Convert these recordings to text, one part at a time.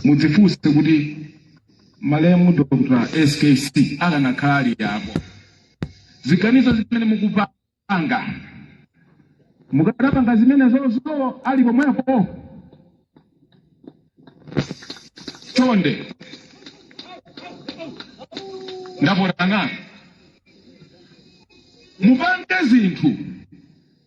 mudzifunse kuti malemu dr skc akanakhala alipo ziganizo zimene mukupanga mukadapanga zimenezozo ali pomwepo chonde ndapota nanu mupange zinthu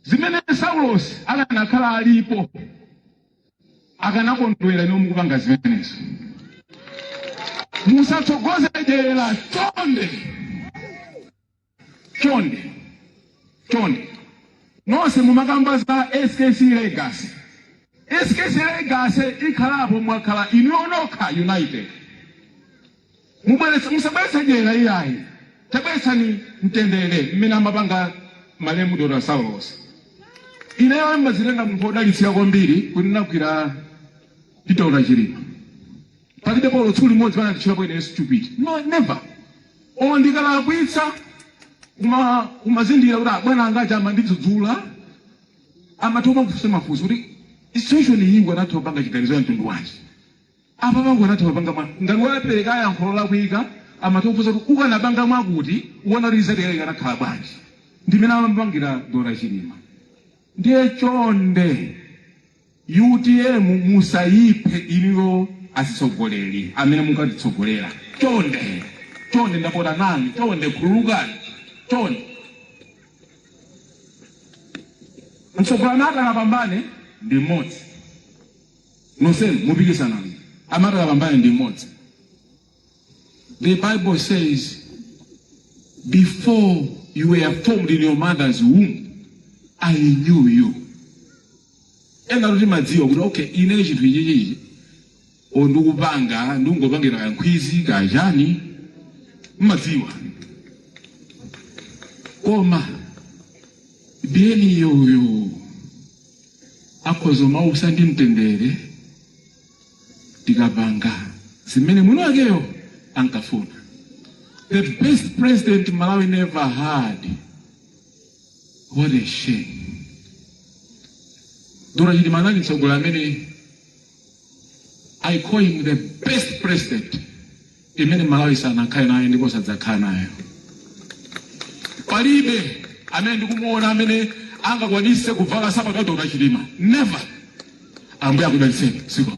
zimene saulosi akanakhala alipo akanakondwera inu mukupanga zimenezo musatsogoze dyera chonde chonde chonde nonse mumakamba za skc legacy skc legacy ikhalapo mukakhala inuyo nokha united Mubweretse, musabweretse dyera iyayi, tabweretsani mtendere umene amapanga malemu Dr. Saulos. Ineyo ndimazitenga munthu wodalitsika kwambiri kuti ndinagwira ndi Dr. Chilima. Palibe olo tsiku limodzi pamene anatchulapo ine stupid. No, never. Olo ndikalakwitsa umatha kumazindikira kuti abwana anga aja akundidzudzula amatha kumakufunsa mafunso kuti situation iyi ukanatha kupanga chiganizo cha mtundu wanji. Apapa ukanatha kupanga bwanji? Ngati wapereka yankho lolakwika, amakuuza kuti ukanapanga mwakuti ukuona kuti result yake ikanakhala bwanji. Ndi mmene amapangira Dr. Chilima. Ndiye chonde utm musayiphe inuyo azitsogoleri amene mukutitsogolera. Chonde, chonde ndapota nanu, chonde khululukani, chonde. Mtsogoleri amene akapambane ndi mmodzi. nonsenu mupikisana koma amene atakapambane ndi mmodzi the bible says before you were formed in your mother's womb i knew you enafe timadziwa kuti okay ine chinthu ichichichi o ndikupanga ndikungopangira kankhwidzi kachani mmadziwa koma mwini iyeyo akhoza kumausa ndi mtendere tikapanga zimene mwini wakeyo ankafuna the best president malawi never had what a shame dr chilima anali mtsogoleri amene i call him the best president imene Malawi sanakhale nayo ndipo sadzakhala nayo. Palibe amene ndikumuona amene angakwanise kuvala sapato ya Dr. Chilima. Never. Ambuye akudalitseni. Zikomo.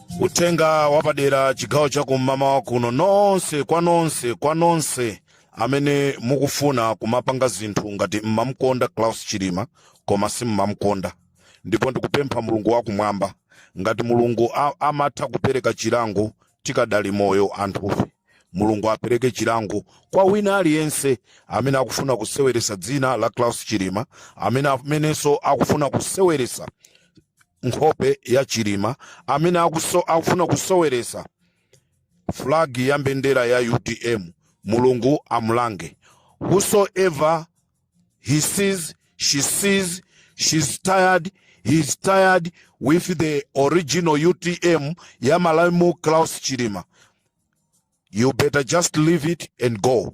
uthenga wapadera chigawo cha kum'mawa kuno nonse kwa nonse kwa nonse amene mukufuna kumapanga zinthu ngati mmamkonda saulos chilima koma simmamkonda ndipo ndikupempha mulungu wakumwamba ngati mulungu a- amatha kupereka chilango tikadali moyo anthufe mulungu apereke chilango kwa wina aliyense amene akufuna kuseweresa dzina la saulos chilima amene amenenso akufuna kuseweresa nkhope ya chilima amene akuso, akufuna kusoweresa flag ya mbendera ya utm mulungu amulange whosoever he sees she sees she's tired he's tired with the original utm ya malaimu klaus chilima you better just leave it and go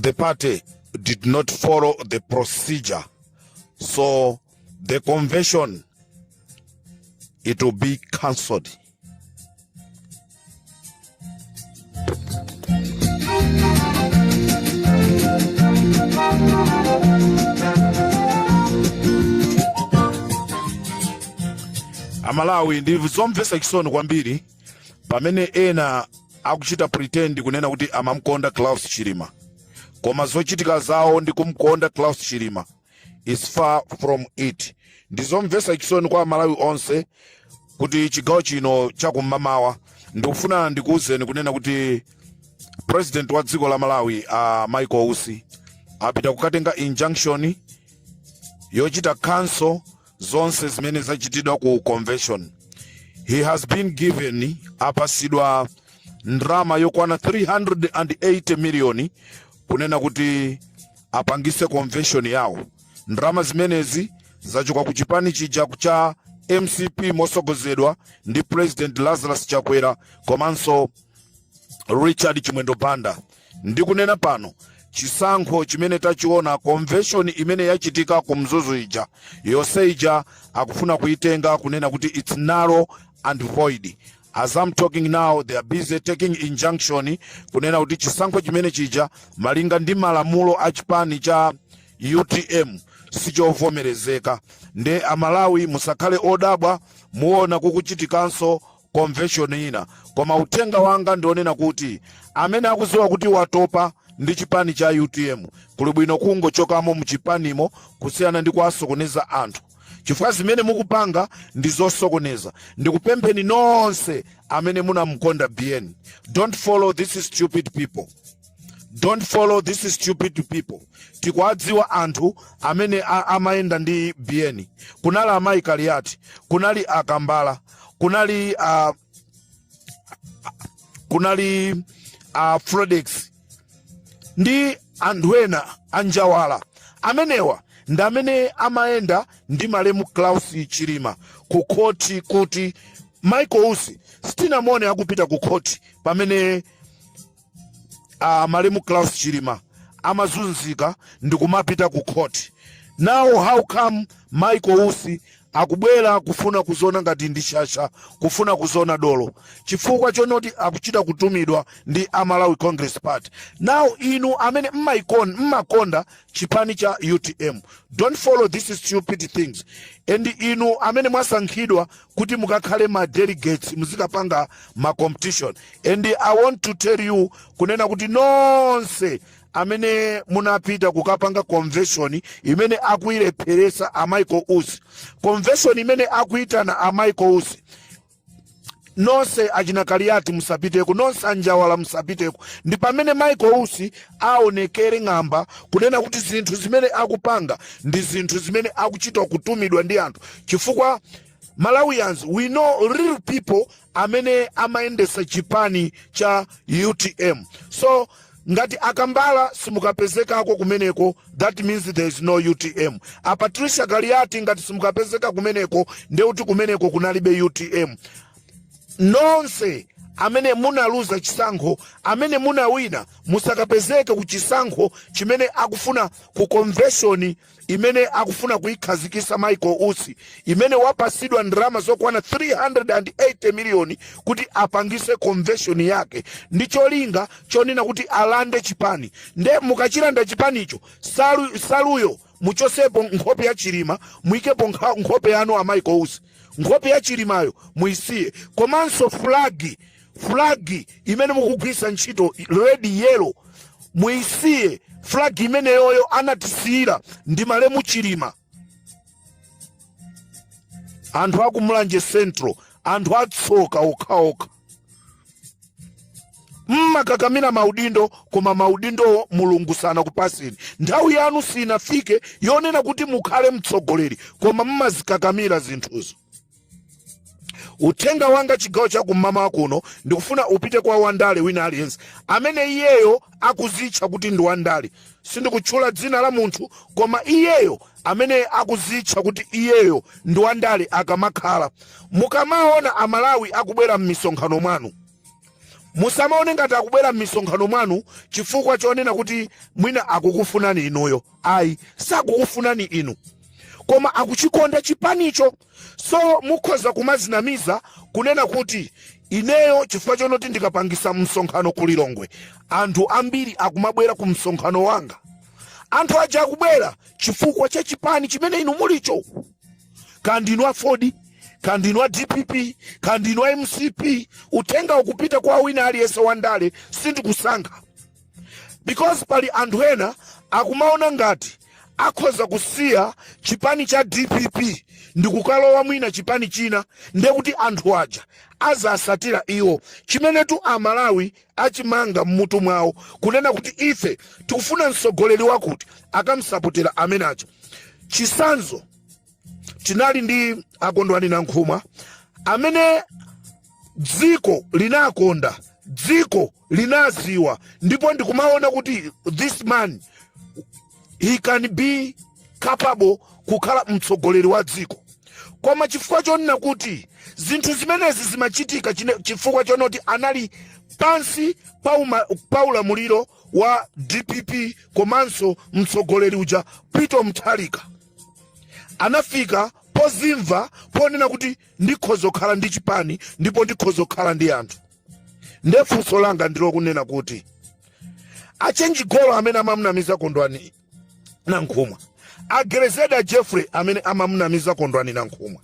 the party did not follow the procedure. So the convention, it will be cancelled. amalawi ndi zomvetsa chisoni kwambiri pamene ena akuchita pretend kunena kuti amamkonda Saulos Chilima koma zochitika zawo ndi kumkonda Saulos Chilima is far from it ndizomvesa chisoni kwa aMalawi onse kuti chigawo chino chakummawa ndikufuna ndikuwuzeni kunena kuti vice president wa dziko la Malawi a uh, Michael Usi apita kukatenga injunction yochita cancel zonse zimene zachitidwa ku convention he has been given apasidwa ndrama yokwana 380 miliyoni kunena kuti apangise convention yawo ndrama zimenezi zachoka ku chipani chija cha mcp motsogozedwa ndi president lazarus chakwera komanso richard chimwendo banda Ndikunena pano, chisankho chimene tachiona, convention imene yachitika ku Mzuzu ija, yonse ija akufuna kuitenga kunena kuti its null and void. As am talking now they are busy taking injunction kunena kuti chisankho chimene chija malinga ndi malamulo a chipani cha utm sichovomerezeka. Nde a Malawi musakhale odabwa muona kukuchitikanso convention ina koma uthenga wanga ndi wonena kuti amene akuziwa kuti watopa ndi chipani cha utm kuli bwino kungochokamo muchipanimo kusiyana ndi kuwasokoneza anthu chifukwa zimene mukupanga ndi zosokoneza ndikupempheni nonse amene munamkonda biyeni don't follow this stupid people don't follow this stupid people tikuwadziwa anthu amene a- amayenda ndi biyeni kunali amayi kaliyati kunali akambala kunali uh, kunali uh, frodex ndi anthu ena anjawala amenewa ndi amene amayenda ndi malemu saulos chilima ku khoti kuti michael usi sitinamuone akupita ku khoti pamene uh, malemu Saulos Chilima amazunzika ndi kumapita ku court. Now how come Michael Usi akubwera kufuna kuziona ngati ndi shasha kufuna kuziona dolo chifukwa chonoti akuchita kutumidwa ndi a Malawi Congress Party. Now inu amene mmaikon mmakonda chipani cha UTM don't follow these stupid things and inu amene mwasankhidwa kuti mukakhale ma delegates muzikapanga ma competition and i want to tell you kunena kuti nonse amene munapita kukapanga convention imene akuilepheresa a michael usi convention imene akuitana a michael usi nonse achina kaliyati musapiteko nonse anjawala musapiteko ndi pamene michael usi awonekere ng'amba kunena kuti zinthu zimene akupanga ndi zinthu zimene akuchita kutumidwa ndi anthu chifukwa malawians we know real people amene amayendesa chipani cha utm so ngati a Kambala simukapezekako kumeneko that means there is no utm a patricia kaliyati ngati simukapezeka kumeneko ndeuti kumeneko kunalibe utm Nonse amene munaluza chisankho amene munawina musakapezeke ku chisankho chimene akufuna ku convention imene akufuna kuikhazikisa Michael Usi imene wapasidwa ndalama zokwana 380 miliyoni kuti apangise convention yake ndi cholinga chonena kuti alande chipani nde mukachilanda chipanicho salu, saluyo muchosepo nkhope ya chilima muikepo nkha- nkhope yanu a michael usi nkhope ya chilimayo muisiye komanso fulagi fulagi imene mukugwirisa ntchito red yellow muisiye fulagi imeneyoyo anatisiyira ndi malemu chilima anthu akumulanje central anthu atsoka okhaokha mmakakamira maudindo koma maudindowo mulungu sanakupaseni nthawi yanu sinafike yonena kuti mukhale mtsogoleri koma mmazikakamira zinthuzo uthenga wanga chigawo cha kum'mawa kuno ndikufuna upite kwa wandale wina aliyense amene iyeyo akuzitcha kuti ndi wandale sindikutchula dzina la munthu koma iyeyo amene akuzitcha kuti iyeyo ndi wandale akamakhala. Mukamaona Amalawi akubwera m'misonkhano mwanu, musamaone ngati akubwera m'misonkhano mwanu chifukwa chonena kuti mwina akukufunani inuyo. Ayi, sakukufunani inu, koma akuchikonda chipanicho. So mukhoza kumazinamiza kunena kuti ineyo chifukwa chonoti ndikapangisa msonkhano ku Lilongwe anthu ambiri akumabwera ku msonkhano wanga. Anthu aja akubwera chifukwa cha chipani chimene inu mulicho. Kaya ndinu a AFORD, kaya ndinu a DPP, kaya ndinu a MCP, uthenga ukupita kwa wina aliyense wandale sindikusankha. because pali anthu ena akumaona ngati akhoza kusiya chipani cha dpp ndikukalowa mwina chipani china ndekuti anthu aja azatsatira iwo chimenetu amalawi achimanga mmutu mwawo kunena kuti ife tikufuna mtsogoleri wakuti akamusapotera ameneyo chisanzo tinali ndi akondwani nankhumwa amene dziko linakonda dziko linaziwa ndipo ndikumaona kuti this man he can be capable kukhala mtsogoleri wa dziko koma chifukwa chonena kuti zinthu zimenezi zimachitika chine- chifukwa chonena kuti anali pansi pa uma- pa ulamuliro wa dpp komanso mtsogoleri uja peter mutharika anafika pozimva ponena kuti ndikhoza kukhala ndi chipani ndipo ndikhoza kukhala ndi anthu nde funso langa ndilokunena kuti achenji golo amene amamunamiza kondwani nankhumwa a grezelder jeffrey amene amamunamiza kondwani nankhumwa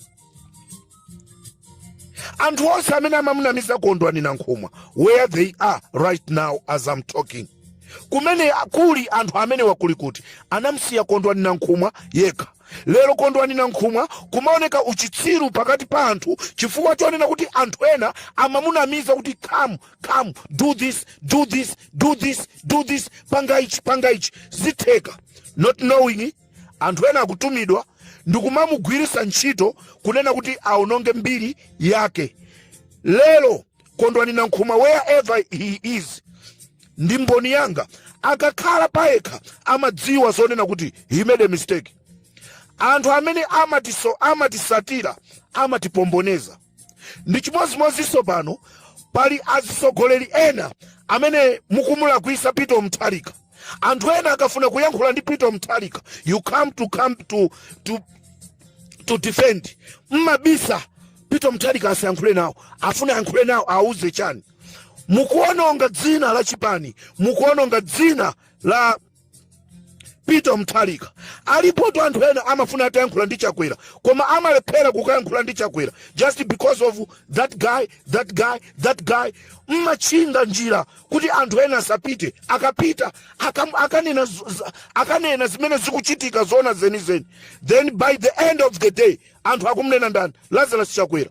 anthu onse amene amamunamiza kondwani nankhumwa where they are right now as I'm talking kumene kuli anthu amene awa kulikuti anamsiya kondwani nankhumwa yekha lero kondwani nankhumwa kumaoneka uchitsiru pakati pa anthu chifukwa chonena kuti anthu ena amamunamiza kuti come come do this do this do this do this panga ichi panga ichi zitheka not knowing Anthu ena akutumidwa ndi kumamugwiritsa ntchito kunena kuti aononge mbiri yake. Lero Kondwani Nankhumwa wherever he is ndi mboni yanga. Akakhala payekha amadziwa zonena kuti he made a mistake. Anthu amene amatiso, amatitsatira amatipomboneza. ndi chimodzimodzinso pano pali azitsogoleri ena amene mukumulakwisa peter mutharika anthu ena akafuna kuyankhula ndi peter mutharika you come to come to, to, to defend mmabisa peter mutharika asayankhule nawo afuna ayankhule nawo auze chani mukuononga dzina la chipani mukuononga dzina la peter mthalika alipo ti anthu ena amafuna atayankhula ndi chakwera koma amalephera kukayankhula ndi chakwera just because of that guy that guy that guy mmatchinga njira kuti anthu ena asapite akapita akam- akanena z- z- akanena zimene zikuchitika zoona zenizeni then by the end of the day anthu akumnena ndani lazarus chakwera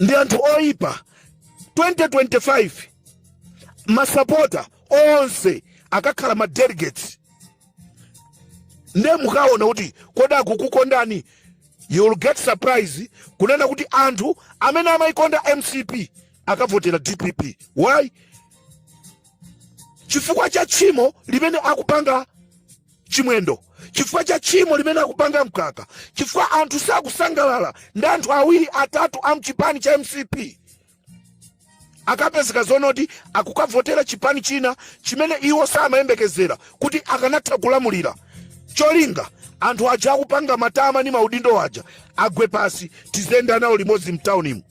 ndi anthu oyipa 2025 masapota onse akakhala ma delegates nde mukaona kuti kodi akukukondani you will get surprise kunena kuti anthu amene amayikonda mcp akavotera dpp why chifukwa cha tchimo limene akupanga chimwendo chifukwa cha tchimo limene akupanga mkaka chifukwa anthu sakusangalala ndi anthu awiri atatu a mchipani cha mcp akapezeka zonoti akukavotera chipani china chimene iwo samayembekezera kuti akanatha kulamulira cholinga anthu aja akupanga matama ndi maudindo aja agwe pasi tizenda nawo limodzi mtaunimu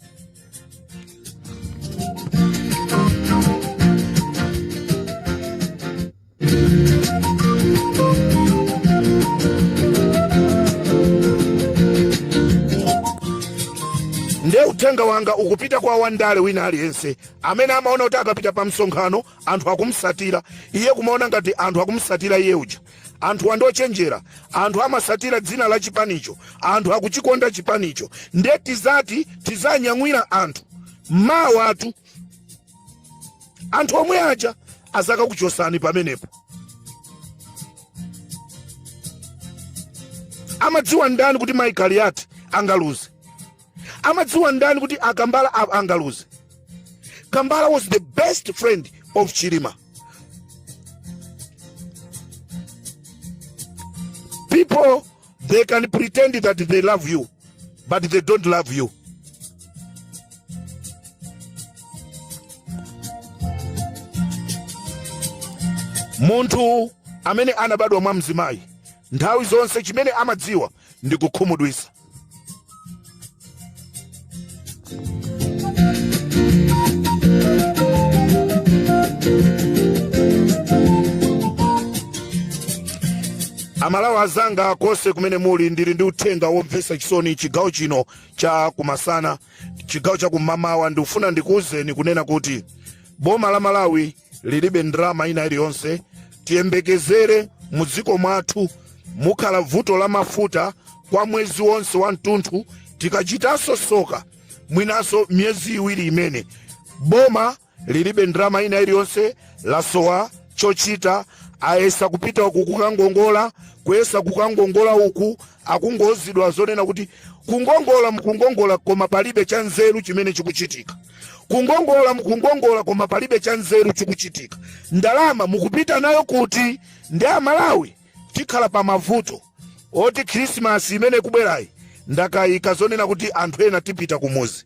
nde uthenga wanga ukupita kwa wandale wina aliyense amene amaona kuti akapita pa msonkhano anthu akumsatira iye kumaona ngati anthu akumsatira iye uja anthu ndi ochenjera anthu amasatira dzina la chipanicho anthu akuchikonda chipanicho nde tizati tizanyamulira anthu mawa atu anthu omwe aja azakakuchosani pamenepo amadziwa ndani kuti mai kaliyati angaluze amadziwa ndani kuti akambala a- angaluze kambala was the best friend of chilima people They can pretend that they love you, but they don't love you. Munthu amene anabadwa mwa mzimayi nthawi zonse chimene amadziwa ndi kukhumudwisa. amalawi azanga konse kumene muli ndili ndi uthenga womvetsa chisoni chigawo chino cha kumasana chigawo cha kumamawa ndikufuna ndikuwuzeni kunena kuti boma la malawi lilibe ndalama ina iliyonse tiyembekezere mu dziko mwathu mukhala vuto la mafuta kwa mwezi wonse wa mtunthu tikachitanso soka mwinanso miyezi iwiri imene boma lilibe ndalama ina iliyonse lasowa chochita ayesa kupita uku kukangongola kuyesa kukangongola uku akungouzidwa zonena kuti kungongola mukungongola koma palibe cha nzeru chimene chikuchitika kungongola mukungongola koma palibe cha nzeru chikuchitika ndalama mukupita nayo kuti ndi amalawi tikhala pa mavuto oti khrisimasi imene ikubwerayi ndakayika zonena kuti anthu ena tipita kumuzi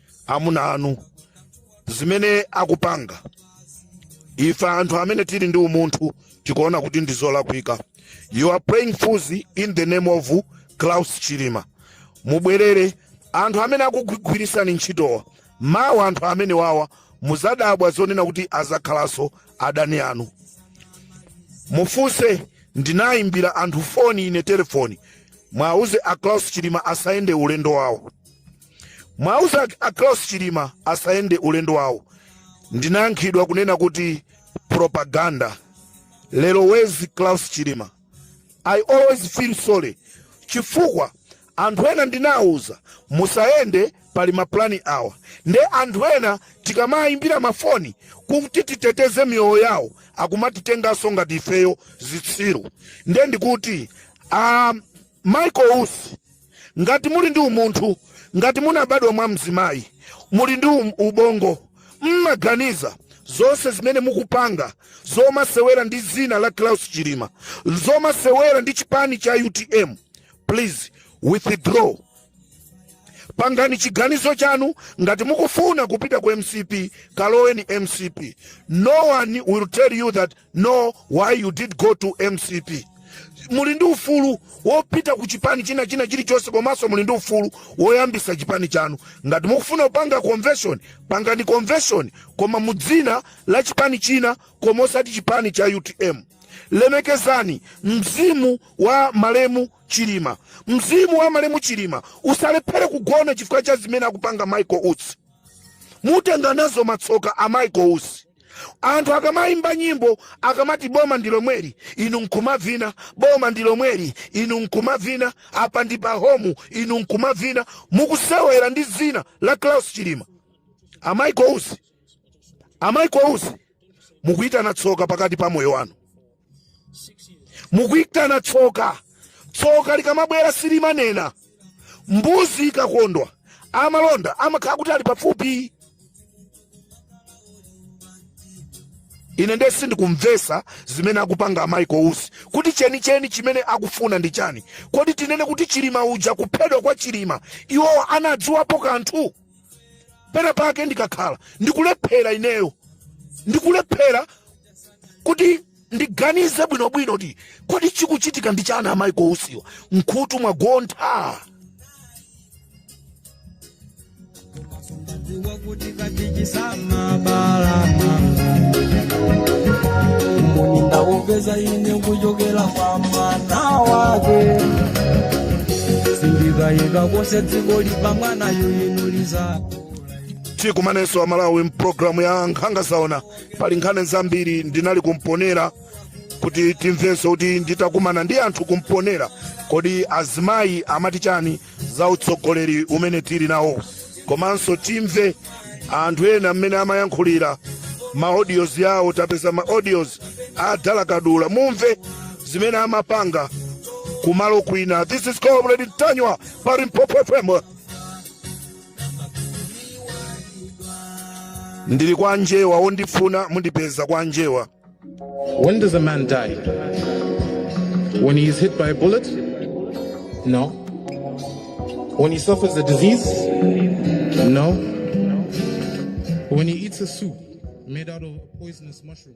amuna anu zimene akupanga ife anthu amene tili ndi umunthu tikuona kuti ndi zolakwika you are playing fools in the name of Klaus Chilima mubwerere anthu amene akugwirisani ntchitowa mawa anthu amenewawa muzadabwa zonena kuti azakhalanso adani anu mufunse ndinayimbira anthu foni ine telefoni mwauze a Klaus Chilima asayende ulendo wawo Mwauze a Klaus Chilima asayende ulendo wawo. Ndinayankhidwa kunena kuti propaganda. Lero wezi Klaus Chilima. I always feel sorry chifukwa anthu ena ndinawuza musayende pali maplani awa nde anthu ena tikamayimbira mafoni kuti titeteze miyoyo yawo akumatitenganso ngati ifeyo zitsiru nde ndikuti um, Michael Usi, ngati muli ndi umunthu, ngati munabadwa mwa mzimayi, muli ndi um, ubongo, mmaganiza zonse zimene mukupanga zomasewera ndi zina la Klaus Chilima, zomasewera ndi chipani cha UTM, please withdraw. Pangani chiganizo chanu ngati mukufuna kupita ku MCP, kaloweni MCP. No one will tell you that no why you did go to mcp muli ndi ufulu wopita ku chipani china china chilichonse komanso muli ndi ufulu woyambisa chipani chanu ngati mukufuna kupanga convention pangani convention koma mu dzina la chipani china koma osati chipani cha utm lemekezani mzimu wa malemu chilima mzimu wa malemu chilima usalephere kugona chifukwa cha zimene akupanga michael usi mutenga nazo matsoka a Michael Usi. Anthu akamayimba nyimbo akamati boma ndi lomweli inu nkumavina, boma ndi lomweli inu nkumavina, apa ndi pa homu inu nkumavina, mukusewera ndi zina la Klaus Chilima. A Michael Usi, a Michael Usi mukuyitana tsoka pakati pa moyo wanu. mukuitana tsoka tsoka likamabwera silimanena mbuzi ikakondwa amalonda amakhala kuti ali pafupi ine ndiye sindikumvesa zimene akupanga amayi kausi kuti chenicheni chimene akufuna ndi chani kodi tinene kuti chilima uja kuphedwa kwa chilima iwowo anadziwapo kanthu pena pake ndikakhala ndikulephera ineyo ndikulephera kuti ndiganize bwinobwino kuti kodi chikuchitika ndi chani amayi kausiwa mkhutu mwagontha Dziwa kuti kadzichitsa mabala Mboni ndawapeza ine kuchokela kwa mwana wake Sindikayika konse dziko lili pamwana yuinuliza tikumanenso amalawi mu pulogalamu ya nkhanga zaona pali nkhani zambiri ndinali kumponela kuti timvenso kuti nditakumana ndi anthu kumponela kodi azimayi amati chani za utsogoleri umene tili nawo komanso timve anthu ena mmene amayankhulira ma audios awo tapeza ma audios a dalakadula mumve zimene amapanga kumalo kwina this is comrade ntanyiwa pa limpopo fm ndili kwa njewa wondifuna mundipeza kwa njewa When does a man die? When he is hit by a bullet? No. When he suffers a disease? No. When he eats a soup made out of a poisonous mushroom?